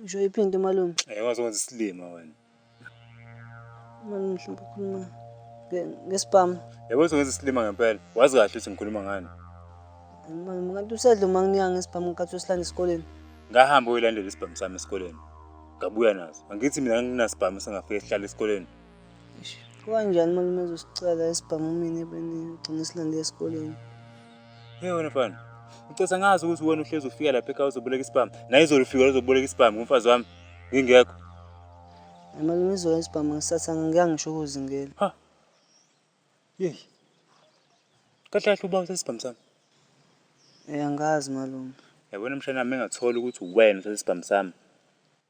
Ngisho iphinte malume. Eh wazokwenza isilima wena. Malume mhlawumbe ukhuluma ngesibhamu. Yebo uzokwenza isilima ngempela. Wazi kahle ukuthi ngikhuluma ngani. Malume kanti usedle uma nginika ngesibhamu nkathi usilanda esikoleni. Ngahamba uyolandela isibhamu sami esikoleni. Ngabuya naso. Angithi mina nginasibhamu sengafika sihlala esikoleni. Kwanjani malume ezosicela esibhamu mina ebeni ugcine silande esikoleni. Hey wena mfana. Ngicela ngazi ukuthi wena uhlezi ufika lapha ekhaya uzoboleka isibhamu. Naye izolo ufika uzoboleka isibhamu kumfazi wami. Ngingekho. Malume izolo isibhamu ngisatha ngeke ngisho ukuzingela. Ha. Yey. Kahle kahle uba usesibhamu sami. Eh angazi malume. Yabona mshana nami engathola ukuthi uwena usesibhamu sami.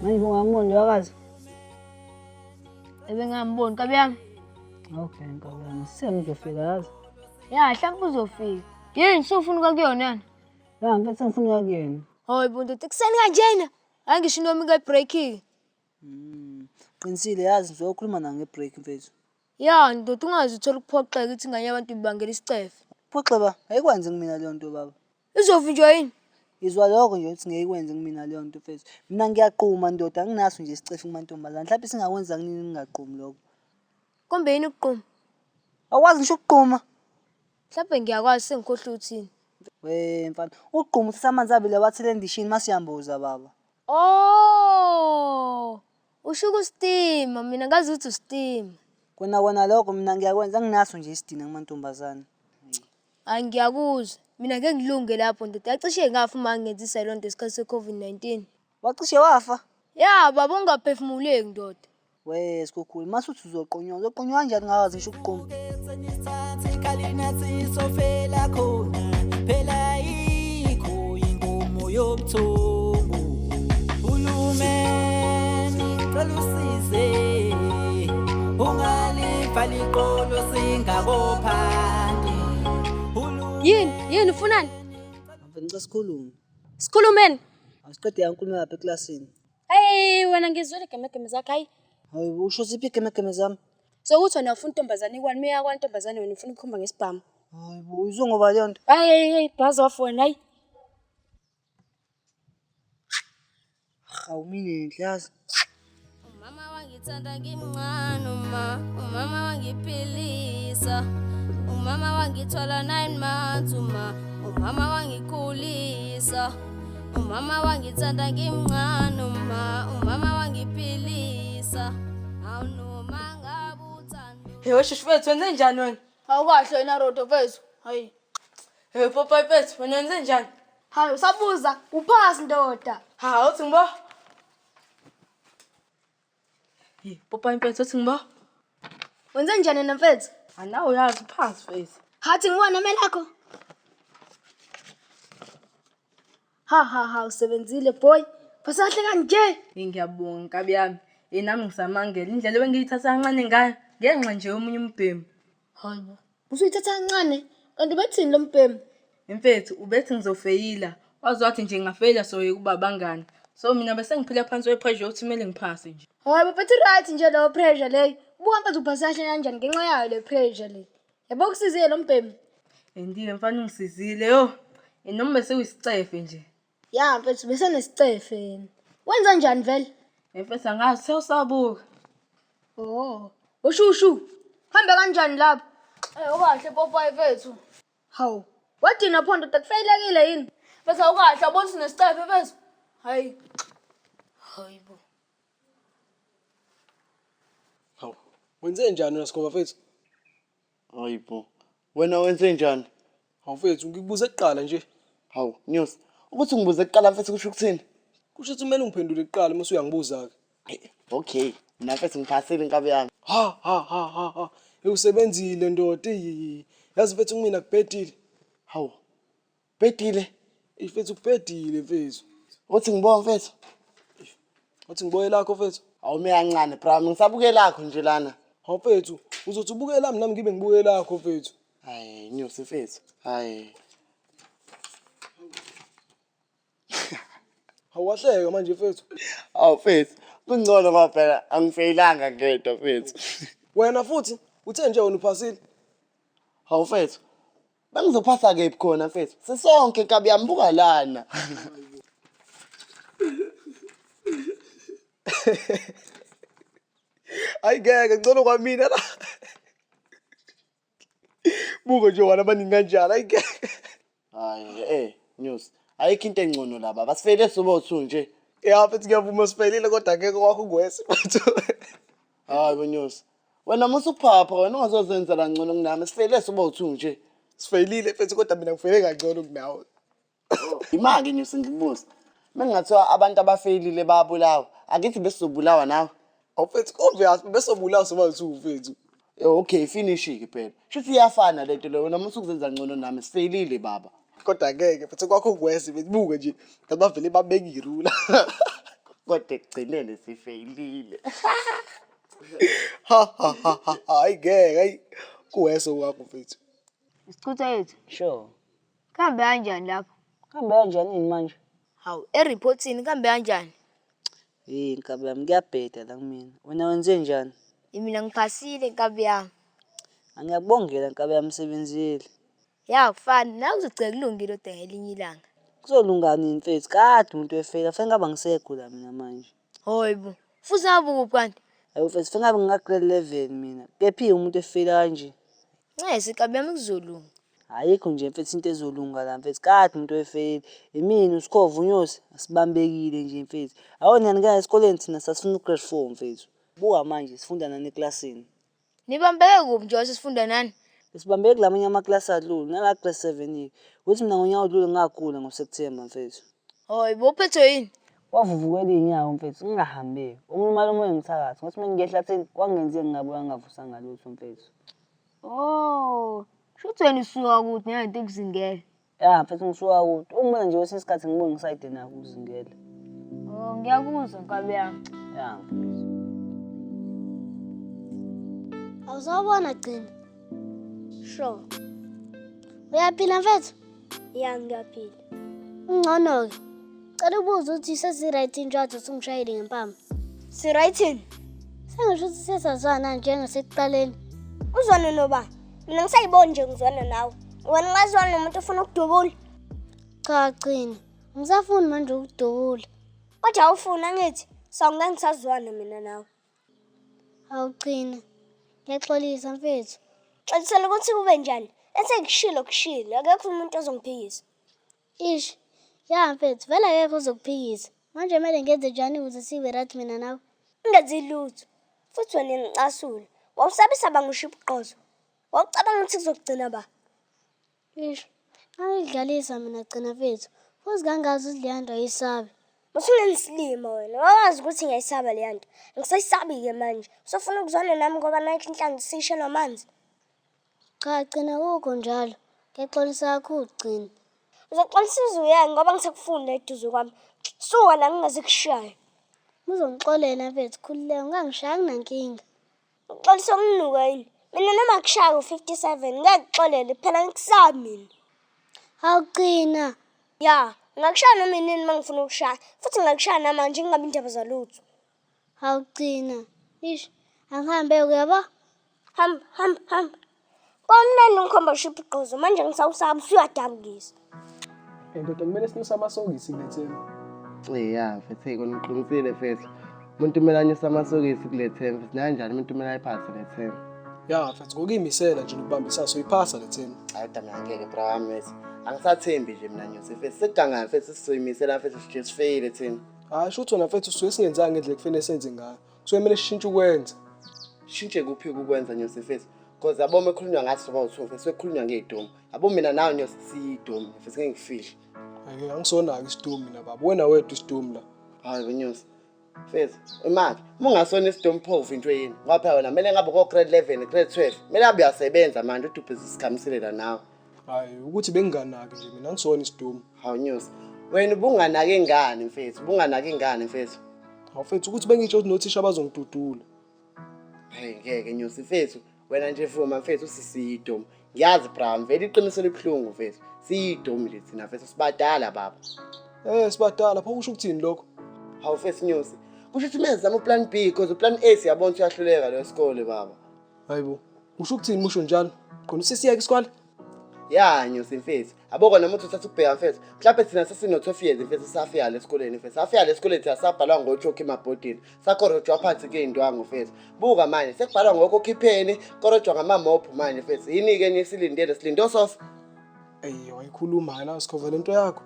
Manje ungamona nje wakazi. Ebengamboni kabi yami. Okay nkabi yami sengizofika yazi. Ya hlampe uzofika. Yini sufuna uka kuyona yana? Ya ngeke sengifuna uka kuyona. Hoy buntu tikuseni kanjena. Angisho into yami kuyibreakile. Mm. Qinisile yazi ngizokhuluma nawe ngebreak mfethu. Ya ndoda ungazi uthola ukuphoxeka ukuthi ingane yabantu ibangela isicefe. Phoxeba ayikwanzi kumina leyo nto baba. Izovinjwa yini? Ngizwa lokho nje ukuthi ngeke ikwenze kumina leyo nto mfethu. Mina ngiyaquma ndoda anginaso nje isicefe kumantombazane. Mhlawumbe singakwenza kunini ngingaqumi lokho. Kombe yini ukuquma? Awukwazi ngisho ukuquma. Mhlawumbe ngiyakwazi sengikhohlwe uthini. We mfana, ukuquma uthatha amanzi abile wathele endishini mase uyamboza baba. Oh! Usho ukustima, mina ngazi ukuthi ustima. Kona kona lokho mina ngiyakwenza anginaso nje isidina kumantombazane. Hayi ngiyakuzwa. Mina ngeke ngilunge lapho ndoda. Yacishe ngafa uma ngangenzisa leyo nto ngesikhathi se-COVID-19. Wacishe wafa? Ya baba ungaphefumuleki ndoda. We sikhukhulu, mase uthi uzoqonywa, uzoqonywa kanjani ngakazi ngisho ukuqoma? Ngeke senye isikhathi, khalinathi sofela khona. uyinkomo yobuthongo hulumeni cela usize ungalivali iqolo singakophandi yini yini ufunani ngicela sikhulume sikhulumeni asiqede yankulumo yapha eklasini Hey wena ngizwile gemegeme zakho hayi. Hayi usho ziphi gemegeme zami? Sokuthi wena ufuna intombazane ikwani meya kwantombazane wena ufuna ukukhomba ngesibhamu. Hayi bo uzongoba leyo nto. Hayi hayi hayi bhazi off wena hayi. Hawu mina enhle yazi. Umama wangithanda ngimncane uma umama wangiphilisa. Umama wangithola 9 months uma umama wangikhulisa. Umama wangithanda ngimncane uma umama wangiphilisa awunoma ngabuthando Heyo shushu wethu wenze njani wena? Awukahle wena Rodo mfethu. Hayi. Heyo popayi mfethu wena wenze njani? Hayi usabuza uphasi ndoda. Ha uthi ngibo Popayi mfethu othi ngibo. Wenze njani yena mfethu? Anawe uyazi phansi mfethu. Hathi ngiwona amelakho. Ha ha ha usebenzile boy. Basahle kanje. Ngiyabonga nkabi yami. Yena nami ngisamangele indlela ebengiyithatha kancane ngayo ngenxa nje yomunye umbhemu. Hayi bo. Usuyithatha kancane. Kanti ubethini lo mbhemu? Mfethu ubethi ngizofeyila. Waze wathi nje ngingafeyila soyeka uba abangani. So mina bese ngiphila phansi kwe-pressure yokuthi kumele ngiphase nje. Hayi bo mfethu right nje leyo pressure leyo. Buka mfethu uphasa kahle kanjani ngenxa yayo le pressure le. Yabo kusizile lo mbhemu. Andiye mfana ungisizile yho. Noma bese uyisicefe nje. Ya mfethu bese nesicefe yena. Wenza njani vele? Mfethu angazi sewusabuka. Oh. Ushushu. Hambe kanjani lapho? Eh ukahle popayi mfethu. Hawu. Wadina pho ndoda kufaylekile yini? Mfethu awukahle awubona ukuthi nesicefe mfethu. Hayi. Hayibo. Hawu. Wenze njani wena Sigoba mfethu? Hayi bo. Wena wenze njani? Hawu mfethu, ngikubuze kuqala nje. Hawu, Nyosi. Ukuthi ngibuze kuqala mfethu kusho ukuthini? Kusho ukuthi kumele ungiphendule kuqala uma usuyangibuza-ke. Okay, mina mfethu ngiphasile inkabi yami. Ha ha ha ha ha. Ewusebenzile ndoda. Eyi. Yazi mfethu kumina kubhedile. Hawu. Bhedile. Ey mfethu kubhedile mfethu. Uthi ngibona mfethu. Uthi ngibona lakho mfethu. Awume kancane bra, ngisabuke lakho nje lana. Hawu mfethu, uzothi ubuke lami nami ngibe ngibuke lakho mfethu. Hayi inyosi mfethu. Hayi. Hawahleka manje mfethu. Aw mfethu, kungcono ngoba phela angifeyilanga ngedwa mfethu. Wena futhi uthe nje wena uphasile. Hawu mfethu, Bengizophasa kephi khona mfethu? Sisonke kabi yambuka lana. Hayi ngeke ngcono kwamina la. Buko nje wala baningi kanjalo hayi ngeke. Hayi eh news. Ayikho into engcono la baba. Sifele sobo two nje. Ya mfethu ngiyavuma sifelile kodwa ngeke kwakho ngwesi mfethu. Hayi bo news. Wena musa ukuphapha wena ungazozenzela ngcono kunami sifeyile soba uthu nje. Sifeyilile mfethu kodwa mina ngifeyile kangcono kunawe. Imake nje sengibuza. Mengingathiwa abantu abafeyilile bayabulawa, akithi besizobulawa nawe. Awufethu obvious besobulawa soba uthu mfethu. Eh, Okay, finishi-ke phela. Shuthi iyafana lento leyo wena musa ukuzenza ngcono nami sifeyilile baba. Kodwa ngeke mfethu kwakho kwese benibuke nje nabavele babekirula. Kodwa ekugcineni sifeyilile. ha ha ha ha hayi ngeke hayi kuwese wakho mfethu isichutha yethu sure kambe kanjani lapho kambe kanjani manje hawu ereportini kambe kanjani hey nkabi yami kuyabheda la kumina wena wenze njani imina ngiphasile nkabi yami angiyakubongela nkabi yami sebenzile ya kufani nawe uzogcela kulungile odwa ngelinye ilanga kuzolungani mfethu kade umuntu efela fanele ngaba ngisekho la mina manje Hoy bo. Futhi nabuku kanti. Ayo mfethu funa ngabe ngika grade 11 mina. Kephi umuntu efile kanje. Ncesi kabi yami kuzolunga. Ayikho nje mfethu into ezolunga la mfethu. Kade umuntu efile. Imini usikhova unyosi asibambekile nje mfethu. Awona nike esikoleni thina sasifuna grade 4 mfethu. Buka manje sifunda nani eclassini. Nibambeke kuphi njengoba sesifunda nani? Besibambeke kulamanye amaklasi adlule, nala grade 7 yeke. Ukuthi mina ngonyaka odlule ngagula ngoSeptember mfethu. Hoy, bowuphethwe yini? Wavuvukela inyawo mfethu ngingahambeki. Ungilumala umoya ngithakathi. Ngothi mengingehla theni kwangenzeki ngabuya ngingavusanga lutho mfethu. Oh, shuthi wena usuka kude ngalento ekuzingele. Ya mfethu ngisuka kude. Uma nje wesinye isikhathi ngibonga isayide naku uzingele. Oh ngiyakuzwa nkabi yami. Ya mfethu. Awusabona gcina. Sure. Uyaphila mfethu? Ya ngiyaphila. Ungcono ke. Cela ubuze ukuthi sesi right injwathi usungishayile ngempama. Si right in. Sengisho ukuthi sesazwana njengasekuqaleni. Uzwane nobani? Mina ngisayiboni nje ngizwana nawe. Wena ungazwana nomuntu ufuna ukudubula. Cha qina. Ngisafuni manje ukudubula. Kodwa awufuna ngithi sawunga ngisazwana mina nawe. Awuqina. Ngiyaxolisa mfethu. Xolisela ukuthi kube njani. Esengishilo kushilo akekho umuntu ozongiphikisa. Ish. Ya mfethu, vele akekho ozokuphikisa. Manje kumele ngenze njani ukuze sibe right mina nawe? Ungenzi lutho. Futhi wena ngicasule. Wawusabisa banga ushiya ubuqozo. Wawucabanga ukuthi kuzokugcina ba? Ish. Angidlalisa mina gcina mfethu. Futhi kangazi ukuthi leya nto ayisabi. Usungengisilima wena. Wawazi ukuthi ngiyayisaba leya nto. Ngisayisabi-ke manje. Usofuna ukuzwana nami ngoba nakho inhlanzi siyishelwa amanzi. Cha gcina kukho njalo. Ngiyaxolisa kakhulu gcina. Uzoxolisa uzuya ngoba ngisakufuni la eduze kwami. Suka la ngingaze kushaye. Uzongixolela mfethu khululeka ungangishaya kunankinga. Uxolisa umnuka yini? Mina noma kushaya u-57 ngiyakixolela phela ngikusaba mina. Hawu gcina. Ya, ngakushaya noma inini uma ngifuna ukushaya. Futhi ngakushaya namanje ngingabi indaba zalutho. awugcina ish akuhambe uyabo ham ham ham kwamnandi ngikhomba shiphi gqozo manje ngisawusaba usuyadabukisa and kodwa kumele sinyuse amasokisi kuletheni ya mfethu eyi kona uqinisile mfethu umuntu kumele anyuse amasokisi kuletheni mfethu nanjani umuntu kumele ayiphase letheni ya mfethu ngokuyimisela nje nokubambisana soyiphasa letheni hayi kodwa mina ngeke bra wami mfethu angisathembi nje mina nyuse mfethu sekugangayo mfethu sizoyimisela mfethu sijezifeyile thina Hayi sho ukuthi wena mfethu usuke singenzanga ngendlela kufanele senze ngayo. Kusuke kumele sishintshe ukwenza. Shintshe kuphi ukwenza nyosi mfethu? Cause yabo uma ekhulunywa ngathi soba uthu mfethu sekukhulunywa ngey'domu. Yabo mina nawe nyosi siyidomu mfethu ngeke ngifihle. Ake angisonaki isidomu mina baba. Wena wedwa isidomu la. Hayi wenyosi. Mfethu imali uma ungasona isidomu pho uvintwe yini? Ngoba phela wena kumele ngabe ko-grade 11, grade 12. Kumele abe uyasebenza manje udubhize usikhamiselela nawe. hayi ukuthi benginganaki nje mina ngisona isidumo hawu news wena ubunganaki ingane mfethu ubunganaki ingane mfethu hawu mfethu ukuthi bengitsho ukuthi nothisha bazongidudula hayi ngeke news mfethu wena nje vuma mfethu usisiyidomu ngiyazi bra mvele iqiniso elibuhlungu mfethu siyidomu nje thina mfethu sibadala baba eh sibadala pho kusho ukuthini lokho hawu mfethu news kusho ukuthi mezama uplan b because uplan a siyabona uyahluleka lo sikole baba Hayibo, usho ukuthini musho njalo? Khona usisiyeke isikole? Ya nyosi mfethu. Yabo kona umuntu uthatha ukubheka mfethu. Mhlawumbe thina sesino-12 years mfethu sisafika la esikoleni mfethu. Safika la esikoleni thina sabhalwa ngochokhi emabhodini. Sakorojwa phansi kuyindwangu mfethu. Buka manje sekubhalwa ngokokhipheni, korojwa ngamamobhu manje mfethu. Yini-ke enye esilindele silinde osofa. Eyi wayikhuluma ke la sikhova lento yakho.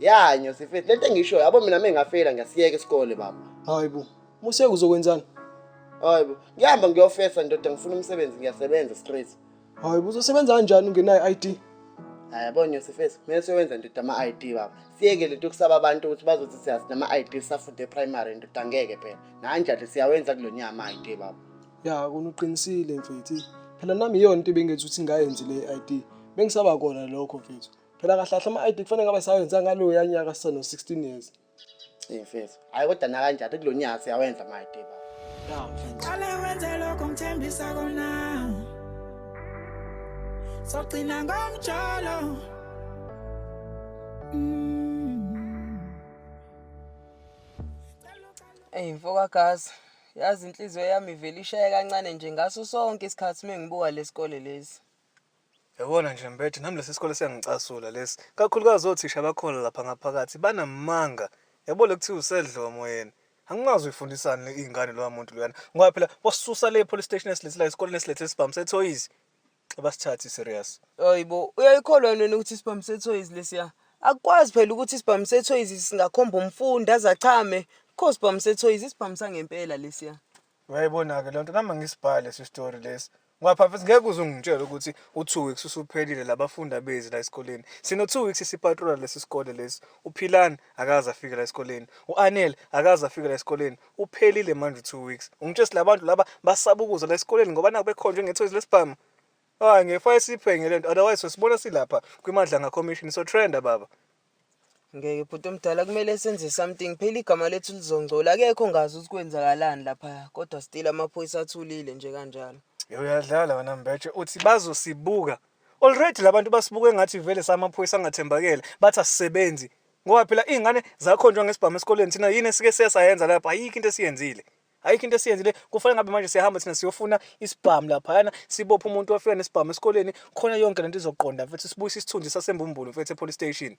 Ya nyosi mfethu lento engishoyo yabo mina mengafeyila ngiyasiyeka isikole baba. Hayibo, Moseka uzokwenzani? Hayi bo. Ngihamba ngiyofesa ndoda ngifuna umsebenzi ngiyasebenza straight. Hayi bo uzosebenza kanjani ungenayo ID? Hayi yabo Nyosi face kumele siyowenza ndoda ama ID baba. Siyeke lento kusaba abantu ukuthi bazothi siyazi nama ID safunde primary ndoda ngeke phela. Nanjalo siyawenza kulonyaka ama ID baba. Ya kona uqinisile mfethu. Phela nami iyona into bengenza ukuthi ngayenzi le ID. Bengisaba kona lokho mfethu. Phela kahlahla ama ID kufanele ngabe sawenza ngaloya nyaka sisano 16 years. Hey mfethu. Hayi kodwa nakanjani kulonyaka siyawenza my day baba. Yeah mfethu. Qale wenze lokho ngithembisa kona. Sogcina ngomjolo. Mm. Ey mfoka Gazi, yazi inhliziyo yami ivele ishaye kancane nje ngaso sonke isikhathi mengibuka lesikole lesi. Yabona nje Mbethe, nami lesi sikole siyangicasula lesi, kakhulukazi othisha bakhona lapha ngaphakathi banamanga. Yabo le kuthiwa usedlomo yena. Angimazi uyifundisani le ingane loya muntu loyana. Ngoba phela wasisusa le police station esilethe la esikoleni esilethe isibhamu sethoyizi. Abasithathi serious. Hayibo, uyayikholwa yini wena ukuthi isibhamu sethoyizi lesiya? Akukwazi phela ukuthi isibhamu sethoyizi singakhomba umfundi aze achame. Kho sibhamu sethoyizi, isibhamu sangempela lesiya. Uyayibona-ke lento nami angisibhali lesi story lesi. Ngoba phafethi ngeke uze ungitshele ukuthi u-two weeks usuphelile labafundi abezi la esikoleni. Sino-two weeks sipatrola lesi sikole lesi. UPhilani akaze afike la esikoleni. U-Anele akaze afike la esikoleni. Uphelile manje u-two weeks. Ungitshela ukuthi labantu laba basaba ukuza la esikoleni ngoba naku bekhonjwe ngethoyizi lesibhamu. Hayi ngeke fanele siyiphenye le nto otherwise sibona silapha kwiMadlanga Commission so trenda baba. Ngeke bhuti omdala kumele senze something phela igama lethu lizongcola akekho ngazi ukuthi kwenzakalani lapha kodwa still amaphoyisa athulile nje kanjalo. Yo uyadlala wena Mbetshe uthi bazosibuka. Already labantu basibuke ngathi vele samaphoyisa angathembakele bathi asisebenzi. Ngoba phela izingane zakhonjwa ngesibhamu esikoleni thina yini esike siyasayenza lapha ayikho into esiyenzile. ayikho into esiyenzi le kufanele ngabe manje siyahamba thina siyofuna isibhamu laphayana sibophe umuntu ofika nesibhamu esikoleni khona yonke lento izoqonda mfethu sibuyise isithunzi sasembumbulu mfethu epolice station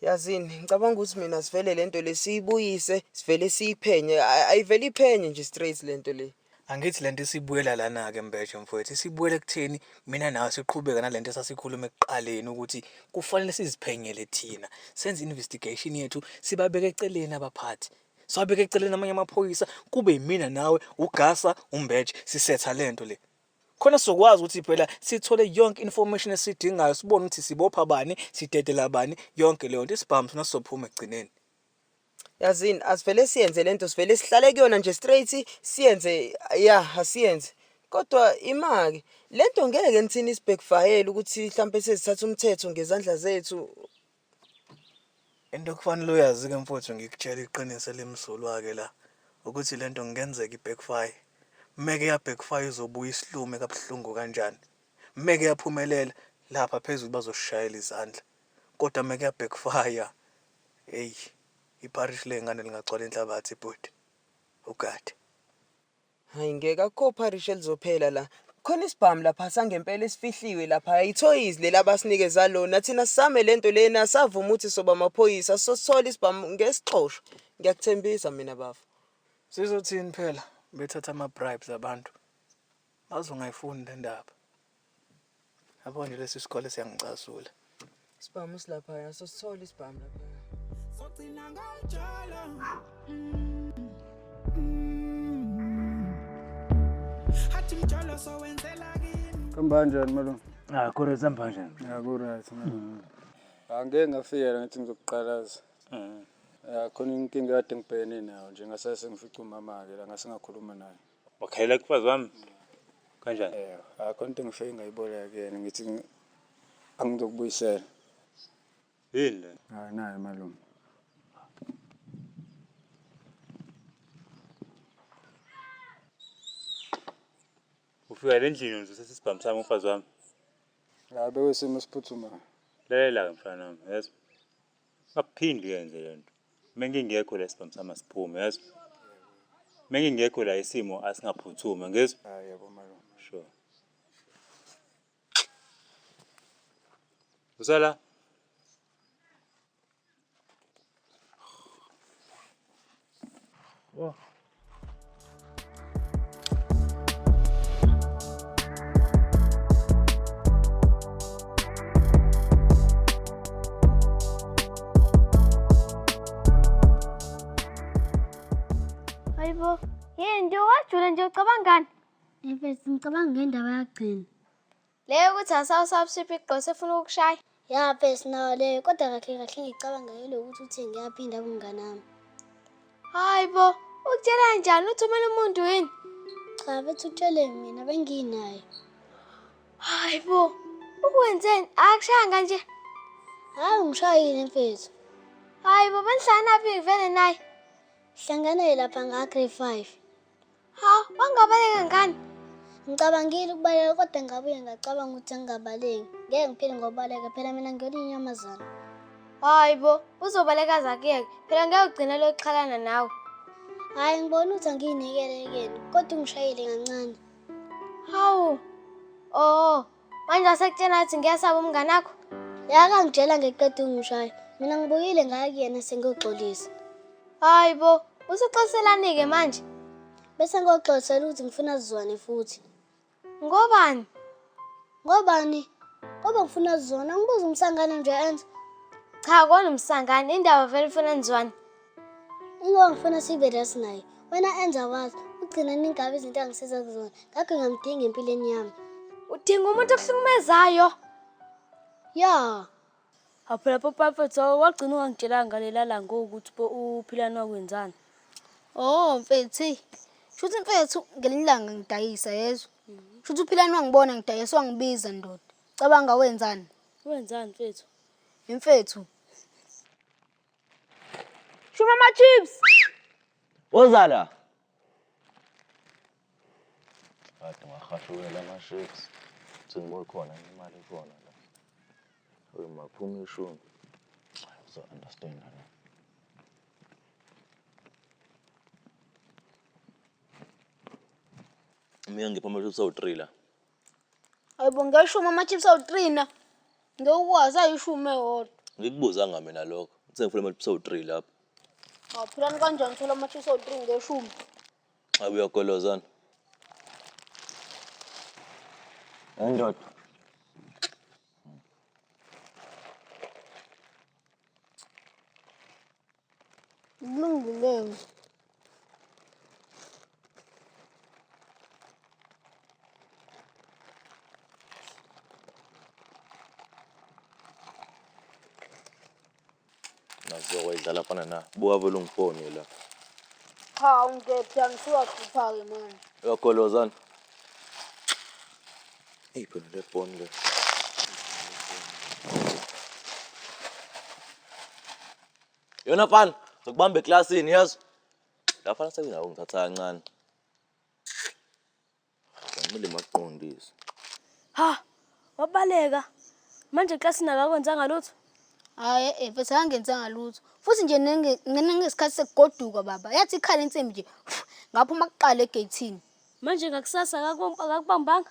yazini ngicabanga ukuthi mina sivele lento le siyibuyise sivele siyiphenye Ay- ayivele iphenye nje straight lento le angithi lento isibuyela lana ke mbeshe mfowethu isibuyela ekutheni mina nawe siqhubeka nalento esasikhuluma ekuqaleni ukuthi kufanele siziphenyele thina senze investigation yethu sibabeke eceleni abaphathi Siwabeke eceleni amanye amaphoyisa kube yimina nawe ugasa umbeje sisetha lento le. Khona sizokwazi ukuthi phela sithole yonke information esidingayo sibone ukuthi sibopha bani, sidedela bani yonke leyo nto isibhamu sona sizophuma ekugcineni. Yazini asivele siyenze lento sivele sihlale kuyona nje straight siyenze yeah asiyenze. Kodwa imake lento ngeke nithini isibhekufayele ukuthi mhlambe sesithatha umthetho ngezandla zethu Into okufanele uyazi-ke mfowethu ngikutshela iqiniso elimsulwa-ke la ukuthi le nto ngenzeka i-backfire. Meke ya-backfire uzobuya isilume kabuhlungu kanjani. Meke yaphumelela lapha phezulu bazoshayela izandla. Kodwa meke ya-backfire eyi ipharishi ley'ngane lingagcwala inhlabathi bhuti. Ugade. Hayi ngeke akukho parish elizophela la. Khona isibhamu lapha sangempela esifihliwe lapha. Ithoyizi leli abasinikeza lona. Thina sisame lento lena savuma ukuthi soba amaphoyisa sosithola isibhamu ngesixosho. Ngiyakuthembisa mina bafo. Sizothini phela bethatha ama bribes abantu. Bazongayifuni le ndaba. Yabona lesi sikole siyangicasula. Isibhamu silapha yaso sithola isibhamu lapha. Sogcina ngajala. Hathi mjolo sowenzela kimi. Kambanjani malume? Ah, kore sambanjani? Ya ku right man. Mm. Angeke ngafikela ngithi ngizokuqalaza. Mhm. Ya khona inkinga kade ngibhekene nayo nje ngasase ngifica umama ke la ngasingakhuluma naye. Bakhalela kufazi wami. Kanjani? Eh, akho into engifike ngayiboleka kuyena ngithi angizokubuyisela. Yini le? Hayi nayo malume. Ufika endlini uzosesa isibhamu sami umfazi wami. La bekuyisimo esiphuthumayo. Lalela-ke mfana wami, yazi. Akuphinde uyenze lento. Mengingekho la isibhamu sami asiphume, yazi. Mengingekho la isimo asingaphuthumi, ngizwa? Ah, yebo malume. Sure. Usala? Oh. Hayibo, yini nje wajula nje ucabangani? Efesi ngicabanga ngendaba yakugcina. Le yokuthi asawusabshiphi igqose efuna ukukushaya. Ya phela sinayo leyo kodwa kahle kahle ngicabanga yilokuthi uthe ngiyaphinda kumngane wami. Hayi bo, ukutshela njani uthumela umuntu yini? Cha bethi utshele mina benginaye. Hayi bo, ukwenzeni? Akushayanga nje. Hayi ngishayile mfethu. Hayi bo, benihlangana phi vele naye? Hlangana lapha nga-grade 5. Ha, wangabaleka ngani? Ngicabangile ukubaleka kodwa ngabuye ngacabanga ukuthi angingabaleki. Ngeke ngiphile ngobaleka phela mina ngiyona inyamazana. Hayi bo, uzobaleka zakuyeke. Phela ngeke ugcine lokuxhalana nawe. Hayi ngibona ukuthi angiyinekele yekeni kodwa ungishayile kancane. Hawu. Oh, Manje wasekutshela ukuthi ngiyasaba umngane akho? Yaka ngitshela ngeqeda ungishaya. Mina ngibuyile ngaya kuyena sengiyoxolisa. Hayi bo, usuxoliselani-ke manje? Bese ngiyoxolisela ukuthi ngifuna sizwane futhi. Ngobani? Ngobani? Ngoba ngifuna sizwane, angibuza umsangane nje enza. Cha, kona umsangane, indaba vele ufuna nizwane. Uma ngifuna sibe right naye, wena enza wazi, ugcina ningabi izinto angisiza kuzona, ngakho ngamdinga empilweni yami. Udinga umuntu okuhlukumezayo. Ya. Apho lapho papa tho wagcina ungangitshelanga ngalela la ngoku ukuthi bo uphilani wakwenzani. Oh mfethu, hey. Shuthi mfethu ngelinye ilanga ngidayisa yezwa. Shuthi uphilani wangibona ngidayisa wangibiza ndoda. Cabanga wenzani? Wenzani mfethu? Mfethu. Shuma ama chips. Woza la. Bathi ngahashukela ama chips. Sengibona khona imali khona la. Uyi maphuma ishumi. So understand la. Mina ngiphuma chips awu 3 la. Ayibo ngeshumi amachips awu-three na ngewukwazi ayishumi ewodwa Ngikubuzanga mina lokho. Uthe ngifuna amachips awu-three lapho. ngaphilani kanjani thola amachips awu-three ngeshumi Abe uyagolozana. Hayi ndoda. Lungileyo. Nazo wayidlala fana na. Buka vele ungifone la. Cha ungiphethe angisiwakhupha-ke manje. Uyagolozana. Eyi phela le phone le. Yona fana, ngikubamba eklasini yazi. La fana sekungawo ngithatha kancane. Ngimile makuqondise. Ha, wabaleka. Manje eklasini akakwenzanga lutho. Hayi, eh, eh, mfethu akangenzanga lutho. Futhi nje nenge- ngena ngesikhathi sekugoduka baba. Yathi ikhala insimbi nje. Ngaphuma kuqala egeyithini. Manje ngakusasa akaku- akakubambanga.